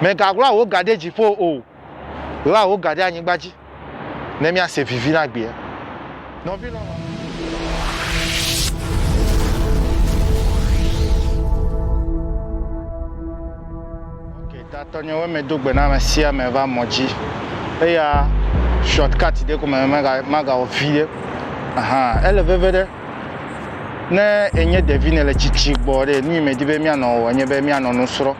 Mègaɣla wò ga ɖe dziƒo o, ɣla wò ga ɖe anyigba dzi, ne míase vivi na gbea. Nɔvi lɔlɔ̃. Ok tatɔ nye we me do gbe na me sia me va mɔ dzi eya short cut ɖe ko me mega maga wɔ viɖe ahan ele veve ɖe ne enye ɖevi ne le tsitsi gbɔ ɖe nu yi me di be mia nɔ wɔ nye be mia nɔ nu srɔ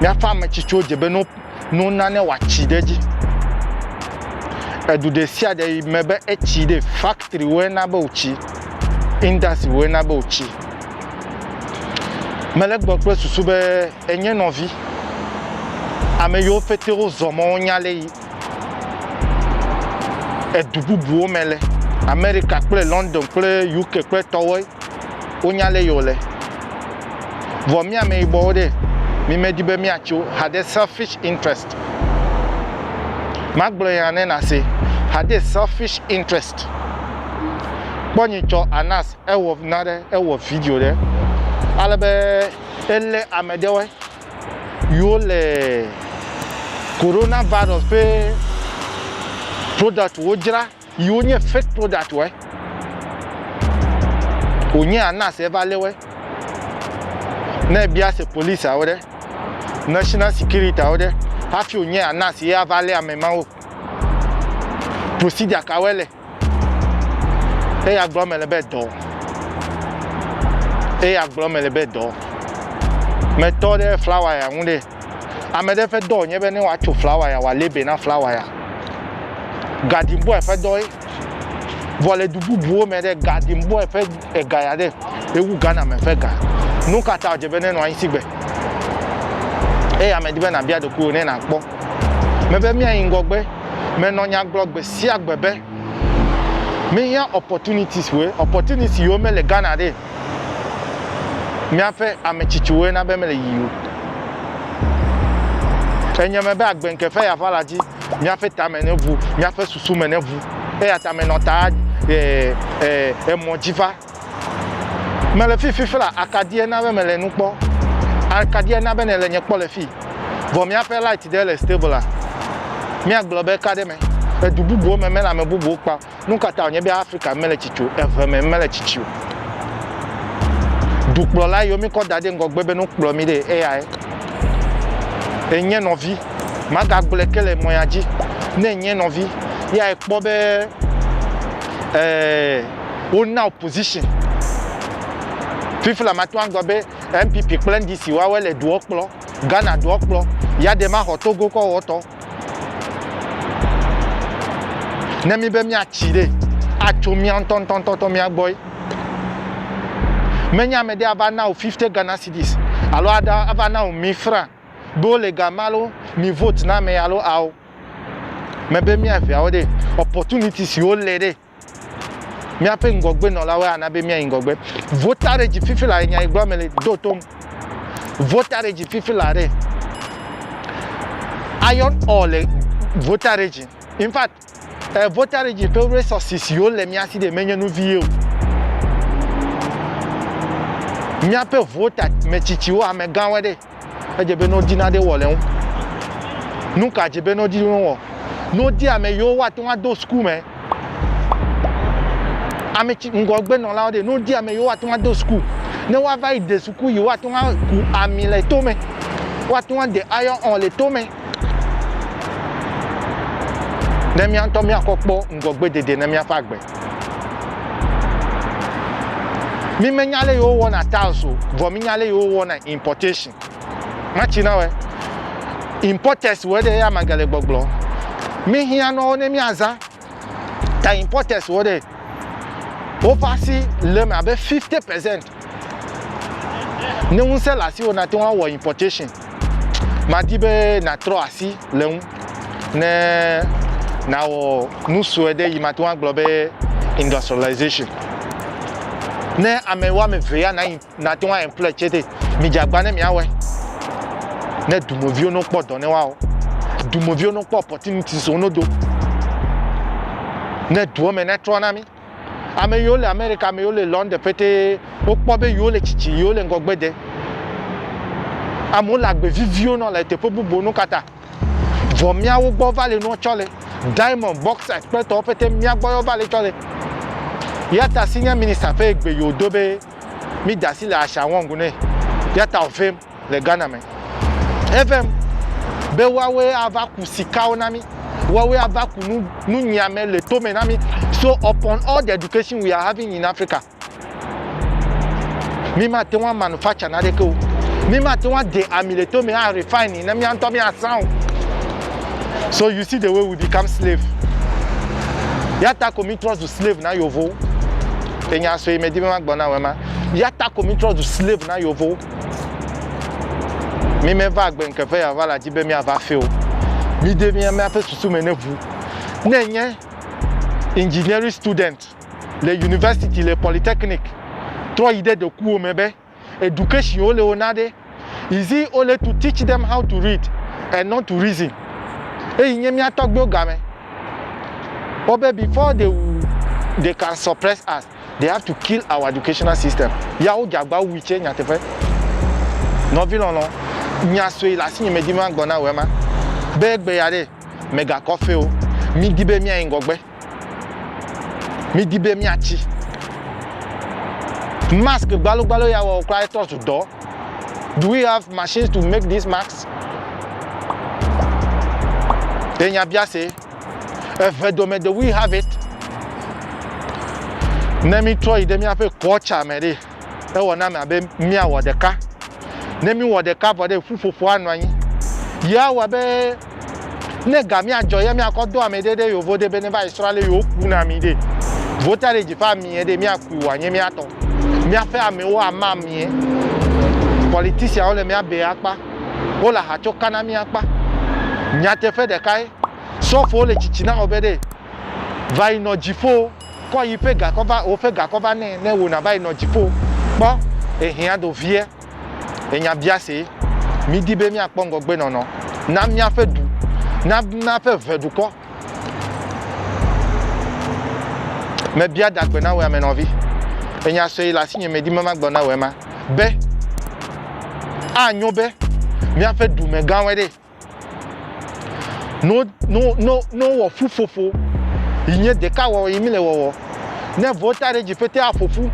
Míaƒe ame tsitsiwo dze be no, no nane wòatsi ɖe edzi. Edu ɖe sia ɖe yi me be etsi ɖe, factorywoe na be wòtsi, industrywoe na be wòtsi. Mele gbɔ kple susu be enye nɔvi, ame yiwo pɛtɛ wozɔ mɔ wonya le yi. edu bubuwo me le Amerika kple London kple UK kple tɔwoe wonya lé yio le. Vɔ mí ameyibɔwo ɖe, mí me di be mía tso haɖe selfish interest. Magblɔ ya ne na se, haɖe selfish interest. Kpɔ nyi tsɔ Anas ewɔ na ɖe ewɔ video ɖe ale be ele ame ɖewoe. yiwo le corona virus ƒe product wo dzra yiwo nye fake product wɔ wònye anas eva lé wɔ ne ebia se police awo ɖe national security awo ɖe hafi wònye anas ye ava lé ame ma wo procedure ka wɔ le. Eya gblɔ mele be dɔ. Eya gblɔ mele be dɔ. Metɔ ɖe flawa ya ŋu ɖe. Ame ɖe ƒe dɔ nye be ne woatso flawa ya, wòalé be na flawa ya. Garden boy ƒe dɔ ye. Vɔ le du bubuwo me ɖe, garden boy ƒe ega ya ɖe, ewu Ghana me ƒe ga. Nu ka ta wòdze be nenɔ anyi sigbe? Eya medi be nàbia ɖokuiwò ne nàkpɔ. Mebe míayi ŋgɔgbe. Menɔ nya gblɔ gbe sia gbe be míhiã opportunities woe, opportunities yiwo mele Ghana ɖe, míaƒe ame tsitsiwoe na be mele yiyim o. Enye me be agbe ŋke ƒe yava la dzi, míaƒe tame neʋu, míaƒe susu me neʋu. Eyata menɔ ta eh, eh, emɔ dzi va. Mele fi fifla akadie na be mele nu kpɔ akadie na be nele nye kpɔ le fi vɔ miaƒe light ɖe le stable a mia gblɔ be ka ɖe me edu bubuwo me mele ame bubuwo kpa nukata wonye be Africa mele tsitsi o eve me mele tsitsi o dukplɔla yiwo mikɔ da ɖe ŋgɔgbe be no kplɔ mi ɖe eyae enye nɔvi maga gblɔe ke le mɔya dzi ne enye nɔvi yae kpɔ be ɛɛ eh, wona opposition fifla mate ŋu agblɔ be npp kple ndc woawoe le doɔ kplɔ ghana doɔ kplɔ ya ɖe maxɔ togo kɔ wɔtɔ ne mi be miatsi ɖe atso mia ŋutɔŋutɔŋutɔ mia gbɔe menye ame ɖe ava na o 50 ghana cities alo ava na o mi fra be wole gama alo mi vote na ame alo ao mebe miaveawo ɖe opportunities siwo le ɖe Míaƒe ŋgɔgbenɔlawoe ana be míayi ŋgɔgbe. Vo ta ɖe dzi fifi la ɖe nya yi gblɔm mele do tom. Vo ta ɖe dzi fifi la ɖe. Iron ore le vo ta ɖe dzi. In fact, eh, vo ta ɖe dzi ƒe resources yiwo le mía si ɖe menye nu vie o. Míaƒe vo ta metsitsiwo, amegãwoe ɖe. Edze be nɔdi naɖe wɔ le ŋu. Nu ka dze be nɔdi wɔ? Nɔdi ame yiwo woate ŋu ado suku me. Ame tsi ŋgɔgbenɔlawo ɖe, nɔdi ame yiwo woate ŋu ado suku. Ne woava yi de suku yi woate ŋu aku ami le to me. Woate ŋu ade ayɔ ɔn le to me. Ne míawo ŋutɔ míakɔ kpɔ ŋgɔgbedede na míaƒe agbe. Mi me nya le yewo wɔna tiles o, vɔ mi nya le yewo wɔna importation. Ma ci na wɛ. Importers wɔ ɖe ya ma gale gbɔgblɔ. Mi hiã nɔ wo ne mi aza. Ta importers wɔ ɖe. Wo va si le me abe 50% ne ŋusẽ le asiwò nate ŋu awɔ importation madi be nàtrɔ asi le ŋu ne nàwɔ nu sue ɖe yi mate ŋu agblɔ be industrialization ne ame woame eve ya nate ŋu aemploy tse ɖe midze agba ne miawɔe ne dumeviwo no kpɔ dɔ ne woawɔ dumeviwo no kpɔ opportunities wo no do ne duɔ me netrɔ na mi Ame yiwo le Amerika, ame yiwo le London ƒetee, wokpɔ be yewo le tsitsi, yewo le ŋgɔgbe de. Amewo le agbe viviwo nɔ le teƒe bubu nu kata. Vɔ miawo gbɔ va le nua tsɔ le. Diamond, bauxite kple tɔwo ƒete mia gbɔ yewo va le tsɔ le. Yata senior minister ƒe egbe yi wòdo be mi da asi le Ashango ŋu ne. Yata wòvem. le Ghana me. Evem be woawoe ava ku sikawo na mí. Woawoe ava ku nu nunyiame le tome na mí. So upon all the education we are having in Africa, mí mate ŋu amanufacture naɖeke o. Mí mate ŋu ade ami le tome a refine ne mía ŋutɔ míazã o. So you see the way we become slave. Yata ko mí trɔ zu slave na yovowo. Enya sue medi be magblɔ na wema. Yata ko mí trɔ zu slave na yovowo. Mi me va agbe nke ve ya va la dzi be mi a va feo. Mi de mi ame aƒe susu me ne ʋu. Ne nye engineering student le university le polytechnic trɔ yi de ɖekuwo me be education wo le wo na ɖe is it only to teach them how to read and not to reason. Eyi nye mi atɔgbewo game. Wo be before they, they can suppress us. They have to kill our educational system. Ya wo jagba wui tse nyateƒe. Nɔvi lɔlɔ, nya sue le asinye medi ma gbɔ na wò ema. Be gbe ya ɖe, mega kɔ feo. Mi di be mia yi ŋgɔgbe. Mi di be mia tsi. Mask gbalo gbalo ya wɔ kura etɔ zu dɔ. Do we have machines to make these masks? Enya bia se. Eve dome do we have it. Ne mítrɔ yi ɖe míaƒe kɔtsa me ɖe, ewɔ name abe míawɔ ɖeka. Ne míwɔ ɖeka vɔ ɖe ƒuƒoƒo anɔ anyi. Ye awɔ be ne ga míadzɔ ye míakɔ do ame ɖe ɖe yevo ɖe be ne va yi srɔ̃ ale yewo ku na mi ɖe. Vota ɖe dzi ƒe amie ɖe míakui wòanye míatɔ. Míaƒe amewo ama amie. Politicianwo le mía be akpa. wole aha tsɔ ka na mí akpa. Nyateƒe ɖekae, sɔfowo le tsitsi na Obede va yi nɔ dziƒo, kɔ yi ƒe gakɔ va, wò ƒe gakɔ va nɛ ne wò nava yi nɔ dziƒo. Kpɔ ehiã do vie. Enya biasee. Mídi be míakpɔ ŋgɔgbenɔnɔ na míaƒe du, na míaƒe ʋe dukɔ. Mebia dagbe na wò ame nɔvi. Enya sue le asinye medi be magblɔ na wò ema be anyo be míaƒe dumegãwoe ɖe no no no no wɔ ƒuƒoƒo yi nye ɖeka wɔwɔ yi mi le wɔwɔ ne vɔ ta ɖe dzi pete aƒoƒu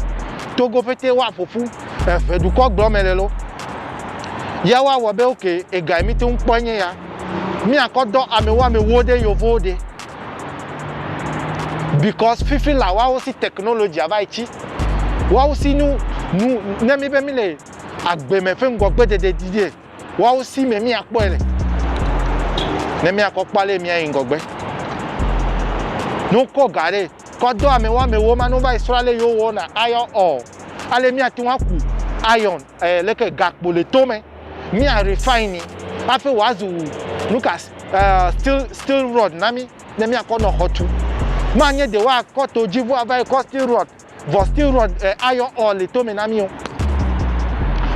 togo pete woaƒoƒu eve dukɔ gblɔ me le lo ya woawɔ be oke ega mi te ŋu kpɔ nye ya Míakɔ dɔ amɛwoamɛwo ɖe yovowo ɖe because fifi la woawo si technology va yi tsi woawo si nu nu ne mi be mi le agbe me ƒe ŋgɔgbe dede di ɖe woawo si me míakpɔe le ne míakɔ kpɔ ale míayi ŋgɔgbe ne wokɔ ga ɖe kɔ dɔ amɛwoamɛwo ma ne wova yi srɔ̃ ale yewo wɔna ayɔ ɔ ale míate ŋu aku iron eh, leke gakpo le to me, mi a refine afe wa zu nuka eh, steel steel rod na mi ne mi akɔ nɔ xɔ tu. Ma nye de wa kɔ to dzi vua va yi kɔ steel rod, vɔ steel rod eh, ayɔ ɔ le to me na mi o.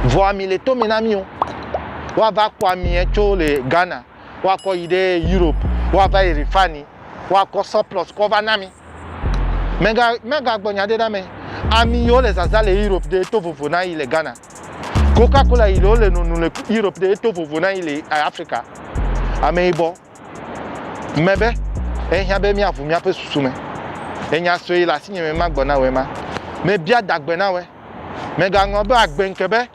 Vɔ ami le to me na mi o. Wa va kpɔ ami tso le Ghana. woakɔ yi ɖe Europe woava yi refine woakɔ surplus kɔ va na mi. Mega mega gbɔ nya ɖe na me. Ami yiwo le zaza le Europe ɖe to vovo na yi le Ghana. Coca Cola yi le wo le nunu le Europe ɖe to vovo na yi le eh, Africa. Ame yibɔ mebe ehiã be míaʋu míaƒe susu me. Enya sue yi le asinye me magbɔ na wòe ma. Mebia dagbe na wòe. Megaŋlɔ be agbe ŋke be.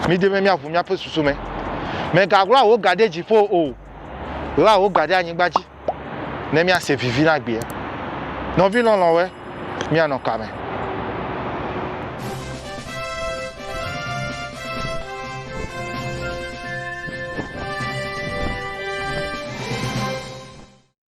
Midi be míaʋu míaƒe susu me. Mègaɣla wò ga ɖe dziƒo o, ɣla wò ga ɖe anyigba dzi, ne míase vivi na gbea. Nɔvi lɔlɔ̃woe, míanɔ ka me?